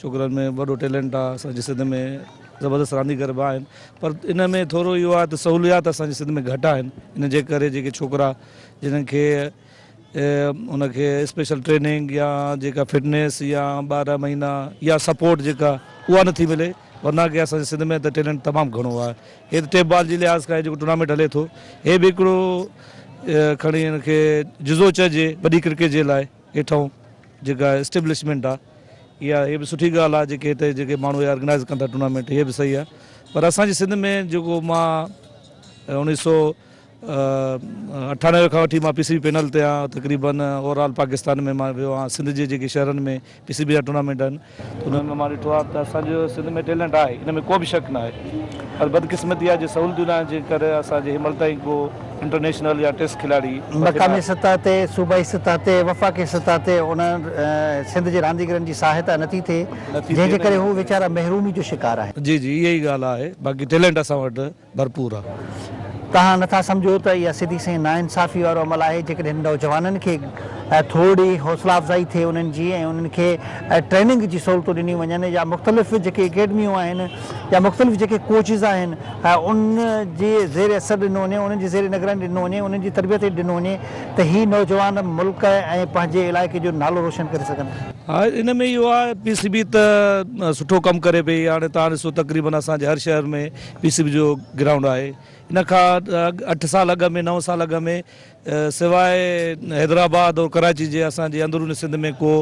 Speaker 5: ڇوڪرن ۾ وڏو ٽيلنٽ آ اسان جي سنڌ ۾ زبردست رانديگر به آهن پر ان ۾ ٿورو اهو آهي ته سهوليات اسان جي سنڌ ۾ گهٽ آهن ان جي ڪري جيڪي ڇوڪرا جنن کي ان کي اسپيشل ٽريننگ يا جيڪا فٽنس يا ٻارهن مهينا يا سپورٽ جيڪا اها نٿي ملي ورنه ڪي اسان جي سنڌ ۾ ته ٽيلنٽ تمام گهڻو آهي هي ته ٽيپ بال جي لحاظ کان جيڪو ٽورنامينٽ هلي ٿو هي به هڪڙو کڻي ان کي جزو چئجي وڏي ڪرڪيٽ جي لاء هيٺئون جيڪا اسٽيبلشمينٽ آ اها هي به سٺي ڳالهه آ جيڪي هتي جيڪي ماڻهو اهي آرگنائز ڪن ٿا ٽورنامينٽ هي به صحيح آ پر اسان جي سنڌ ۾ جيڪو مان اڻيهه سو اٺانوي کان وٺي مان پي سي بي پينل تي آهيان تقريبن اوور آل پاڪستان ۾ مان ويو آهيان سنڌ جي جيڪي شهرن ۾ پي سي بي جا ٽورنامينٽ آهن انهن ۾ مان ڏٺو آهي ته اسان جو سنڌ ۾ ٽيلنٽ آهي ان ۾ ڪو به شڪ ناهي پر بدقسمتي آهي جو سهولتون ناهن جنهن ڪري اسان جي هنمهل تائين ڪو انٽرنيشنل يا ٽيسٽ کلاڙي وڌي مقامي ناهي. سطح
Speaker 2: تي، صوبائي سطح تي، وفاقي سطح تي انهن سنڌ جي رانديگرن جي سهائتا نٿي ٿئي نٿي جنهن ٿئي جي نه ڪري هو ويچارا محرومي جو شڪار آهن. جي جي اها ئي ڳالهه آهي
Speaker 5: باقي ٽيلنٽ اسان وٽ. ڀرپور آ. توهان نٿا
Speaker 2: سمجهو ته اها سڌي سنئين ناانصافي وارو عمل آهي جيڪڏهن نوجوانن کي ٿورڙي حوصلا افزائي ٿئي انهن جي ۽ انهن کي ٽريننگ جي سهولتون ڏنيون وڃن يا مختلف جيڪي اڪيڊميون آهن يا مختلف جيڪي ڪوچز آهن ان جي زير اثر ڏنو وڃي انهن جي زير نگراني ڏنو وڃي انهن جي تربيت هيٺ ڏنو وڃي ته هي نوجوان ملڪ ۽ پنهنجي علائقي جو نالو روشن ڪري سگهن. ها ان ۾ اهو
Speaker 5: آهي پي سي بي ته سٺو ڪم ڪري پئي هاڻي توهان ڏسو تقريبن اسان جي هر شهر ۾ پي سي بي جو گرائونڊ آهي ان کان اٺ سال اڳ ۾ نو سال اڳ ۾ سواء حيدرآباد اور ڪراچي جي اسان جي اندروني سنڌ ۾ ڪو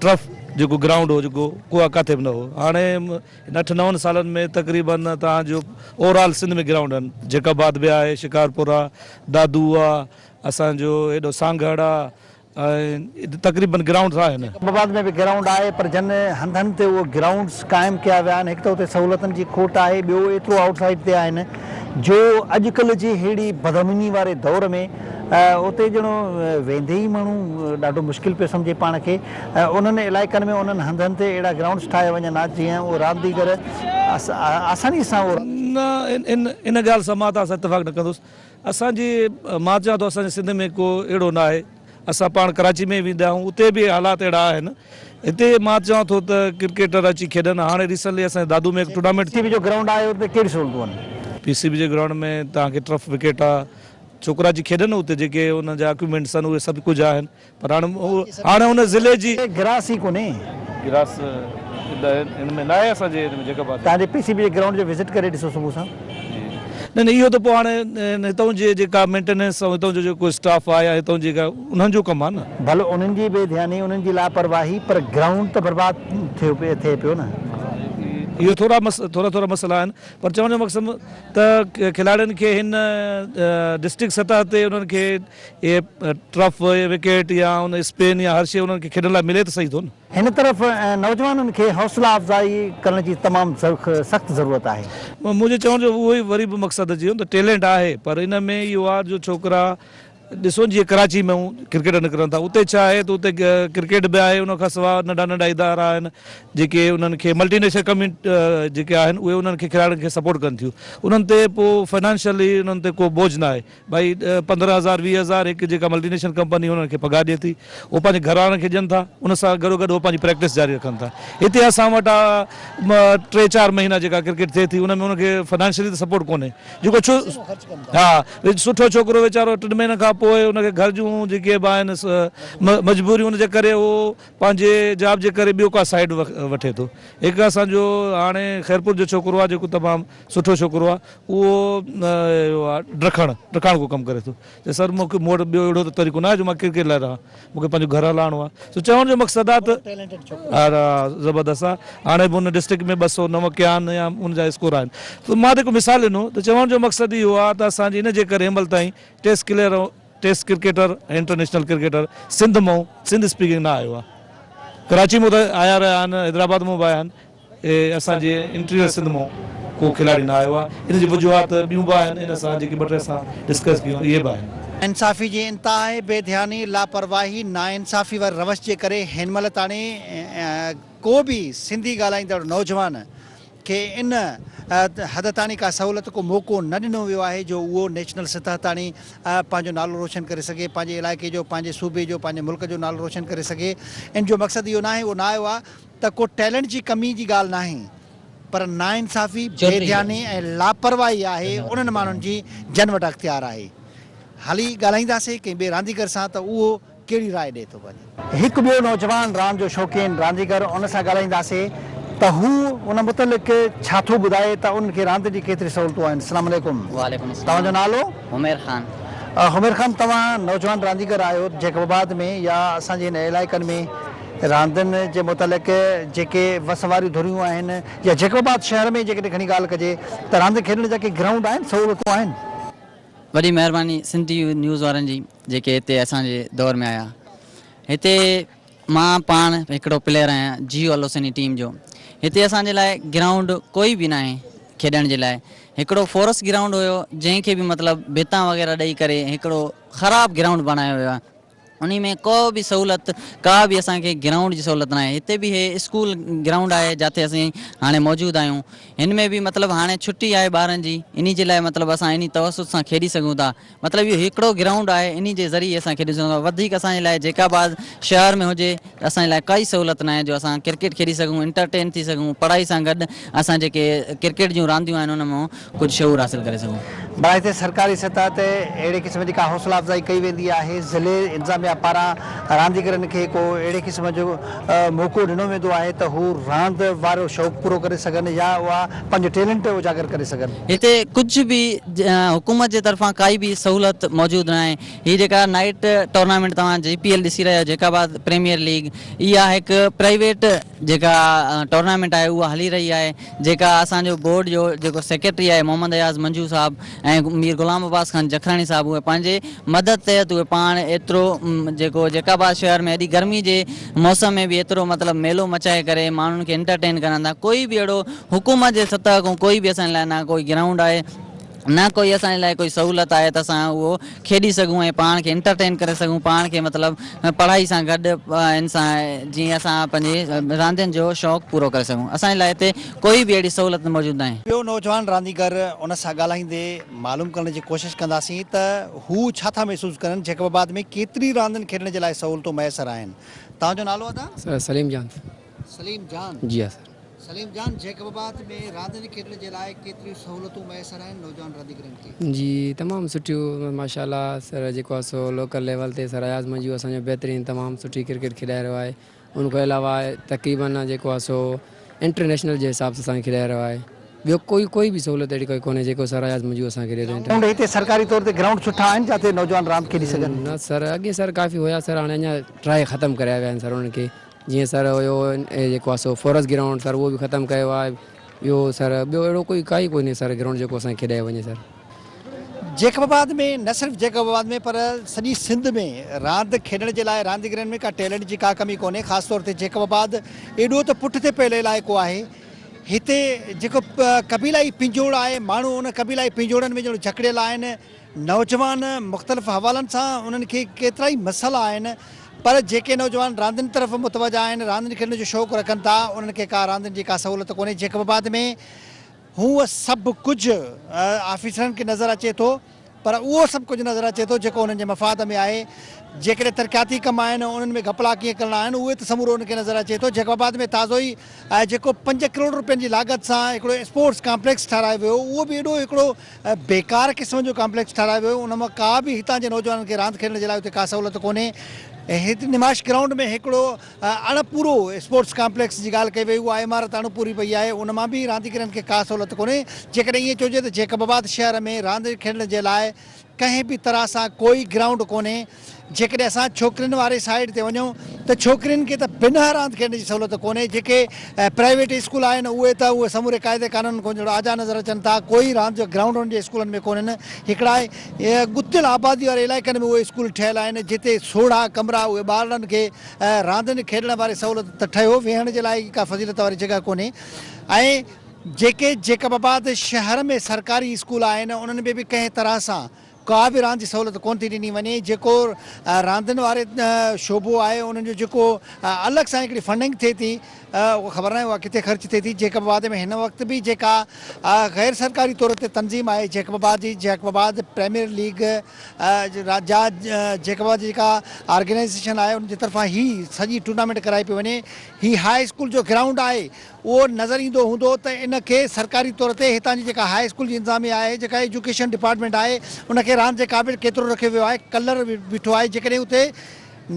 Speaker 5: ٽرف جيڪو گرائونڊ هو جيڪو ڪو ڪاٿي به نه هو هاڻي ان اٺ نون سالن ۾ تقريبن تان جو اوورآل سنڌ ۾ گرائونڊ آهن جيڪب آباد به آهي شڪارپور آهي دادو آهي اسان جو هيڏو سانگهڙ آهي ۽ تقريبن گرائونڊز آهن. اسلام آباد ۾ به گرائونڊ
Speaker 2: آهي پر جن هنڌن تي اهي گرائونڊز قائم ڪيا ويا آهن هڪ ته اتي سهولتن جي کوٽ آهي ٻيو ايترو آئوٽ سائيڊ تي آهن جو اڄڪلهه جي ههڙي بدامني واري دور ۾ اتي ڄڻ ويندي ئي ماڻهو ڏاڍو مشڪل پيو سمجهي پاڻ کي انهن علائقن ۾ انهن هنڌن تي اهڙا گرائونڊز ٺاهيا وڃن ها جيئن اهو رانديگر آساني سان اهو
Speaker 5: ان ڳالهه سان مان ته اسان اتفاق نه ڪندس اسان جي مان چوان ٿو اسان جي سنڌ ۾ ڪو اهڙو نه آهي اسان پاڻ ڪراچي ۾ ويندا آهيون اتي به حالات اهڙا آهن هتي مان چوان ٿو ته ڪرڪيٽر اچي کيڏن هاڻي ريسنٽلي اسان جي دادو ۾ هڪ ٽورنامينٽ ٿي. پي سي بي جو گرائونڊ آهي اتي
Speaker 2: ڪهڙي سهولتون آهن؟ پي سي بي جي گرائونڊ
Speaker 5: ۾ توهان کي ٽرف وڪيٽ آهي ڇوڪرا اچي کيڏن اتي جيڪي انهن جا اڪيوپمينٽس آهن اهي سڀ ڪجهه آهن پر هاڻ هاڻ ان ضلعي جي. کي گراس ئي ڪونهي.
Speaker 2: گراس
Speaker 5: هن ۾ ناهي اسان جي ان جيڪب آباد. توهان جي پي سي بي جي گرائونڊ
Speaker 2: جو وزٽ ڪري ڏسو صبح سان. نه نه اهو
Speaker 5: ته پوء هاڻي هتان جي جيڪا مينٽيننس ۽ هتان جو جيڪو اسٽاف آهي يا هتان جيڪا انهن جو ڪم آهي نه. ڀل انهن جي بي ڌياني
Speaker 2: انهن جي لاپرواهي پر گرائونڊ ته برباد ٿيو پي ٿئي پيو نه. اهي ٿورا
Speaker 5: مس ٿورا ٿورا مسئلا آهن پر چوڻ جو مقصد ته کلاڙين کي هن ڊسٽرڪٽ سطح تي انهن کي. اهي ٽرف اهي وڪيٽ يا ان اسپن يا هر شيء انهن کي کيڏڻ لاء ملي ته سهي ٿو نه. هن طرف
Speaker 2: نوجوانن کي حوصلا افزائي ڪرڻ جي تمام سخت ضرورت آهي. منهنجي چوڻ جو
Speaker 5: اهو ئي وري به مقصد اچي ويو ته ٽيلنٽ آهي پر ان ۾ اهو آهي جو ڇوڪرا ڏسو جيئن ڪراچي ۾ ڪرڪيٽر نڪرن ٿا اتي ڇا آهي ته اتي ڪرڪيٽ به آهي ان کان سواء ننڍا ننڍا ادارا آهن جيڪي انهن کي ملٽي نيشنل ڪميٽ جيڪي آهن اهي انهن کي کلاڙين کي سپورٽ ڪن ٿيون انهن تي پوء فنانشلي انهن تي ڪو بوجھ نه آهي. ڀائي ڏهه پندرهن هزار ويهه هزار هڪ جيڪا ملٽي نيشنل ڪمپني انهن کي پگهار ڏئي ٿي هو پنهنجي گهراڻن کي ڏين ٿا ان سان گڏو گڏ هو پنهنجي پريڪٽس جاري رکن ٿا هتي اسان وٽ آ ٽي چار مهينا جيڪا ڪرڪيٽ ٿئي ٿي ان ۾ انهن کي فنانشلي ته سپورٽ ڪونهي جيڪو ڇو ها سٺو ڇوڪرو ويچارو ٽن مهينن کان پوء ان کي گهر جون جيڪي به آهن مجبوريون ان جي ڪري هو پنهنجي جاب جي ڪري ٻيو ڪا سائيڊ وٺي ٿو هڪ اسان جو هاڻي خيرپور جو ڇوڪرو آ جيڪو تمام سٺو ڇوڪرو آ اهو اهو آ ڊکڻ ڊکاڻ ڪو ڪم ڪري ٿو چي سر مون کي مون وٽ ٻيو اهڙو ته طريقو ناهي جو مان ڪرڪيٽ لاء رهان مون کي پنهنجو گهر هلائڻو آ سو چوڻ جو مقصد آ ته ها زبردست آ هاڻي به ان ڊسٽرڪٽ ۾ ٻه سؤ نو ڪيان يا ان جا اسڪور آهن سو مان جيڪو مثال ڏنو ته چوڻ جو مقصد اهو آ ته اسان جي ان جي ڪري هنمهل تائين test clear test cricketer ۽ international cricketer Sindh مئون سنڌ اسپيڪنگ نه آيو آ ڪراچي مون ته آيا رهيا آهن حيدرآباد مون به آيا آهن اهي اسان جي انٽيريئر سنڌ مون ڪو کلاڙي نه آيو آهي ان جي وجوهات ٻيون به آهن ان سان جيڪي ٻه ٽي اسان ڊسڪس ڪيون اهي به آهن. انصافي جي
Speaker 2: انتهائي بي ڌياني، لاپرواهي، ناانصافي واري روش جي ڪري هن مهل تاڻي ڪو به سنڌي ڳالهائيندڙ نوجوان کي ان حد تاڻي ڪا سهولت ڪو موقعو نه ڏنو ويو آهي جو اهو نيشنل سطح تاڻي پنهنجو نالو روشن ڪري سگهي پنهنجي علائقي جو پنهنجي صوبي جو پنهنجي ملڪ جو نالو روشن ڪري سگهي ان جو مقصد اهو ناهي اهو نه آيو آهي ته ڪو ٽيلنٽ جي ڪمي جي ڳالهه ناهي پر ناانصافي، بي ڌياني ۽ لاپرواهي آهي انهن ماڻهن جي جن وٽ اختيار آهي. هلي ڳالهائينداسين ڪنهن ٻئي رانديگر سان ته اهو ڪهڙي راء ڏئي ٿو پنهنجي. هڪ ٻيو نوجوان راند جو شوقين رانديگر ان سان ڳالهائينداسين ته هو ان متعلق ڇا ٿو ٻڌائي ته ان کي راند جي ڪيتري سهولتون آهن. السلام عليڪم. وعليڪم السلام. توهان جو
Speaker 6: نالو؟ حمير
Speaker 2: خان.
Speaker 6: حمير خان
Speaker 2: توهان نوجوان رانديگر آهيو جيڪب آباد ۾ يا اسان جي هن علائقن ۾ راندين جي متعلق جيڪي وس واريون ڌريون آهن يا جيڪب آباد شهر ۾ جيڪڏهن گهڻي ڳالهه ڪجي ته راندين کيڏڻ جا ڪي گرائونڊ آهن سهولتون آهن؟ وڏي
Speaker 6: مهرباني سنڌ ٽي وي نيوز وارن جي جيڪي هتي اسان جي دور ۾ آيا هتي مان پاڻ هڪڙو پليئر آهيان جيو الحسيني ٽيم جو هتي اسان جي لاء گرائونڊ ڪوئي به ناهي کيڏڻ جي لاء هڪڙو فورس گرائونڊ هيو جنهن کي به مطلب ڀتان وغيره ڏئي ڪري هڪڙو خراب گرائونڊ بڻايو ويو آهي انهي ۾ ڪو به سهولت ڪا به اسان کي گرائونڊ جي سهولت ناهي هتي به هي اسڪول گرائونڊ آهي جاتي اسين هاڻي موجود آهيون هن ۾ به مطلب هاڻي ڇٽي آهي ٻارن جي انهي جي لاء مطلب اسان انهي توسط سان کيڏي سگهون ٿا مطلب اهو هڪڙو گرائونڊ آهي انهي جي ذريعي اسان کيڏي سگهون ٿا وڌيڪ اسان جي لاء جيڪاباد شهر ۾ هجي اسان لاء ڪائي سهولت ناهي جو اسان ڪرڪيٽ کيڏي سگهون انٽرٽين ٿي سگهون پڙهائي سان گڏ اسان جيڪي ڪرڪيٽ جون رانديون آهن ان مان ڪجهه شعور حاصل ڪري سگهون. بلا هتي سرڪاري
Speaker 2: سطح تي اهڙي قسم جي ڪا حوصلا افزائي ڪئي ويندي آهي ضلعي انتظاميا پاران رانديگرن کي ڪو اهڙي قسم جو موقعو ڏنو ويندو آهي ته هو راند وارو شوق پورو ڪري سگهن يا اها پنهنجو ٽيلنٽ اجاگر ڪري سگهن. هتي ڪجهه به
Speaker 6: حڪومت جي طرفان ڪائي به سهولت موجود ناهي. هي جيڪا نائيٽ ٽورنامينٽ توهان جي پي ايل ڏسي رهيا آهيو جيڪا بعد پريميئر ليگ اها هڪ پرائيويٽ جيڪا ٽورنامينٽ آهي اها هلي رهي آهي جيڪا اسان جو بورڊ جو جيڪو سيڪريٽري آهي محمد اياز منجو صاحب ۽ مير غلام عباس خان جکراڻي صاحب اهي پنهنجي مدد تحت اهي پاڻ ايترو جيڪو جيڪا آباد شهر ۾ ايڏي گرمي جي موسم ۾ به ايترو مطلب ميلو مچائي ڪري ماڻهن کي انٽرٽين ڪرن ٿا ڪوئي به اهڙو حڪومت جي سطح کان ڪوئي به اسان لاء نه ڪوئي گرائونڊ آهي نه ڪوئي اسان جي لاء ڪوئي سهولت آهي ته اسان اهو کيڏي سگهون ۽ پاڻ کي انٽرٽين ڪري سگهون پاڻ کي مطلب پڙهائي سان گڏ ان سان جيئن اسان پنهنجي راندين جو شوق پورو ڪري سگهون اسان جي لاء هتي ڪوئي به اهڙي سهولت موجود ناهي. ٻيو نوجوان رانديگر
Speaker 2: ان سان ڳالهائيندي معلوم ڪرڻ جي ڪوشش ڪنداسين ته هو ڇا ٿا محسوس ڪرن جيڪب آباد ۾ ڪيتري راندين کيڏڻ جي لاء سهولتون ميسر آهن توهان جو نالو ادا؟ سليم جان.
Speaker 3: سليم
Speaker 2: جان، جي ها سر. سليم
Speaker 3: جان، جيڪب
Speaker 2: آباد ۾ راندين کيڏڻ جي لاء ڪيتريون سهولتون ميسر آهن نوجوان رانديگرن کي؟ جي تمام سٺيون
Speaker 7: ماشاء الله سر جيڪو آهي سو لوڪل ليول تي سر اياز منجو اسان جو بهترين تمام سٺي ڪرڪيٽ کيڏائي رهيو آهي ان کان علاوه تقريبن جيڪو آهي سو انٽرنيشنل جي حساب سان اسان کي کيڏائي رهيو آهي ٻيو ڪوئي ڪوئي به سهولت اهڙي ڪوئي ڪونهي جيڪو سر اياز منجو اسان کي ڏي ٿو گرائونڊ هتي سرڪاري طور تي
Speaker 2: گرائونڊ سٺا آهن جاتي نوجوان راند کيڏي سگهن؟ نه سر اڳي سر
Speaker 7: ڪافي هيا سر هاڻي اڃا ٽراء ختم ڪريا ويا آهن سر انهن کي جيئن سر هيو جيڪو آهي سو فورس گرائونڊ سر اهو به ختم ڪيو آهي ٻيو سر ٻيو اهڙو ڪوئي ڪائي ڪونهي سر گرائونڊ جيڪو اسان کي کيڏايو وڃي سر. جيڪب
Speaker 2: آباد ۾ نه صرف جيڪب آباد ۾ پر سڄي سنڌ ۾ راند کيڏڻ جي لاء رانديگرن ۾ ڪا ٽيلنٽ جي ڪا ڪمي ڪونهي خاص طور تي جيڪب آباد ايڏو ته پٺتي پيل علائقو آهي هتي جيڪو قبيلائي پنجوڙ آهي ماڻهو ان قبيلائي پنجوڙن ۾ ڄڻ جڪڙيل آهن نوجوان مختلف حوالن سان انهن کي ڪيترائي مسئلا آهن پر جيڪي نوجوان راندين طرف متوجه آهن راندين کيڏڻ جو شوق رکن ٿا انهن کي ڪا راندين جي ڪا سهولت ڪونهي جيڪب آباد ۾ هو سڀ ڪجهه آفيسرن کي نظر اچي ٿو پر اهو سڀ ڪجهه نظر اچي ٿو جيڪو انهن جي مفاد ۾ آهي جيڪڏهن ترقياتي ڪم آهن انهن ۾ گهپلا ڪيئن ڪرڻا آهن اهو ته سمورو انهن کي نظر اچي ٿو جيڪب آباد ۾ تازو ئي جيڪو پنج ڪروڙ روپين جي لاڳت سان هڪڙو اسپورٽس ڪامپليڪس ٺهرايو ويو اهو به اهڙو هڪڙو بيڪار قسم جو ڪامپليڪس ٺهرايو ويو ان مان ڪا به هتان جي نوجوانن کي راند کيڏڻ جي لاء اتي ڪا سهولت ڪونهي هت نمائش گرائونڊ ۾ هڪڙو اڻ پورو اسپورٽس ڪامپليڪس جي ڳالهه ڪئي وئي اها عمارت اڻ پوري پئي آهي ان مان به رانديگرن کي ڪا سهولت ڪونهي جيڪڏهن ائين چئجي ته جيڪب آباد شهر ۾ راند کيڏڻ جي لاء ڪنهن به طرح سان ڪوئي گرائونڊ ڪونهي جيڪڏهن اسان ڇوڪرين واري سائيڊ تي وڃون ته ڇوڪرين کي ته بنهه راند کيڏڻ جي سهولت ڪونهي، جيڪي پرائيويٽ اسڪول آهن اهي ته اهي سموري قاعدي قانونن کان جهڙا آجا نظر اچن ٿا، ڪوئي راند جو گرائونڊ انهن جي اسڪولن ۾ ڪونهن، هڪڙا ڳتيل آبادي واري علائقن ۾ اهي اسڪول ٺهيل آهن جتي سوڙها ڪمرا اهي ٻارڙن کي راندين کيڏڻ واري سهولت ته ٺهيو ويهڻ جي لاء ئي ڪا فضيلت واري جڳهه ڪونهي ۽ جيڪي جيڪب آباد شهر ۾ سرڪاري اسڪول آهن انهن ۾ به ڪنهن طرح سان ڪا به راند جي سهولت ڪونه ٿي ڏني وڃي جيڪو راندين واري شعبو آهي انهن جو جيڪو الڳ سان هڪڙي فنڊنگ ٿئي ٿي اها خبر ناهي اها ڪٿي خرچ ٿئي ٿي جيڪب آباد ۾ هن وقت به جيڪا غير سرڪاري طور تي تنظيم آهي جيڪب آباد جي جيڪب آباد پريميئر ليگ جا جيڪب آباد جي جيڪا آرگنائيزيشن آهي ان جي طرفان هي سڄي ٽورنامينٽ ڪرائي پئي وڃي هي هاء اسڪول جو گرائونڊ آهي اهو نظر ايندو هوندو ته ان کي سرڪاري طور تي هتان جي جيڪا هاء اسڪول جي انتظاميه آهي، جيڪا ايجوڪيشن ڊپارٽمينٽ آهي، ان کي راند جي قابل ڪيترو رکيو ويو آهي، ڪلر بيٺو آهي، جيڪڏهن اتي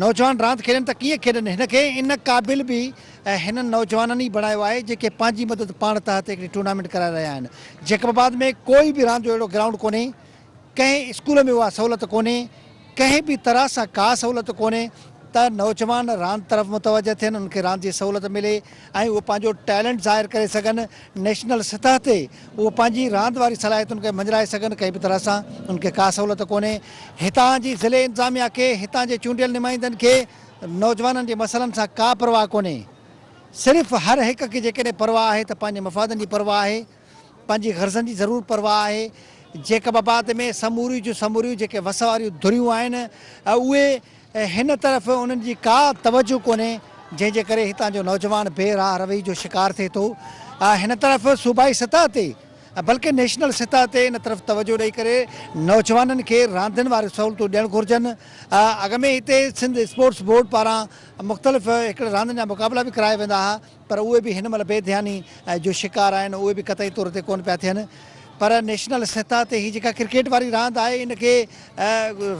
Speaker 2: نوجوان راند کيڏن ته ڪيئن کيڏن، هن کي ان قابل به هنن نوجوانن ئي بڻايو آهي، جيڪي پنهنجي مدد پاڻ تحت هڪڙي ٽورنامينٽ ڪرائي رهيا آهن، جيڪب آباد ۾ ڪوئي به راند جو اهڙو گرائونڊ ڪونهي، ڪنهن اسڪول ۾ اها سهولت ڪونهي، ڪنهن به طرح سان ڪا سهولت ڪونهي ته نوجوان راند طرف متوجه ٿين، انهن کي راند جي سهولت ملي ۽ اهي پنهنجو ٽيلنٽ ظاهر ڪري سگهن، نيشنل سطح تي اهي پنهنجي راند واري صلاحيتن کي مڃرائي سگهن، ڪنهن به طرح سان انهن کي ڪا سهولت ڪونهي، هتان جي ضلعي انتظاميا کي، هتان جي چونڊيل نمائندن کي نوجوانن جي مسئلن سان ڪا پرواهه ڪونهي، صرف هر هڪ کي جيڪڏهن پرواهه آهي ته پنهنجي مفادن جي پرواهه آهي. پنهنجي غرضن جي ضرور پرواهه آهي. جيڪب آباد ۾ سموريون جون سموريون جيڪي وس واريون ڌريون آهن، اهي هن طرف انهن جي ڪا توجهه ڪونهي، جنهن جي ڪري هتان جو نوجوان بي راهه روي جو شڪار ٿئي ٿو. هن طرف صوبائي سطح تي بلڪه نيشنل سطح تي ان طرف توجهه ڏئي ڪري نوجوانن کي راندين واريون سهولتون ڏيڻ گهرجن. اڳ ۾ هتي سنڌ اسپورٽس بورڊ پاران مختلف هڪڙي راندين جا مقابلا به ڪرايا ويندا ها. پر اهي به هن مهل بي ڌياني جو شڪار آهن اهي به قطعي طور تي ڪونه پيا ٿين پر نيشنل سطح تي هي جيڪا ڪرڪيٽ واري راند آهي ان کي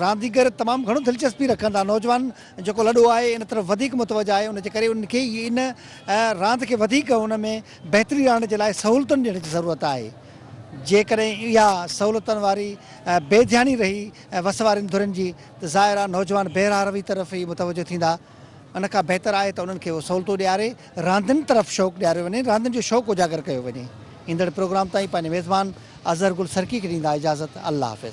Speaker 2: رانديگر تمام گهڻو دلچسپي رکن ٿا نوجوان جيڪو لڏو آهي ان طرف وڌيڪ متوجه آهي ان جي ڪري ان کي ان راند کي وڌيڪ ان ۾ بهتري آڻڻ جي لاء سهولتن ڏيڻ جي ضرورت آهي جيڪڏهن اها سهولتن واري بي ڌياني رهي وس وارين ڌرين جي ته ظاهر آهي نوجوان بي راهه روي طرف ئي متوجه ٿيندا. ان کان بهتر آهي ته انهن کي اهو سهولتون ڏياري راندين طرف شوق ڏياريو وڃي، راندين جو شوق اجاگر ڪيو وڃي. ايندڙ پروگرام تائين پنهنجي ميزبان اظهر گل سرڪي کي ڏيندا اجازت الله حافظ.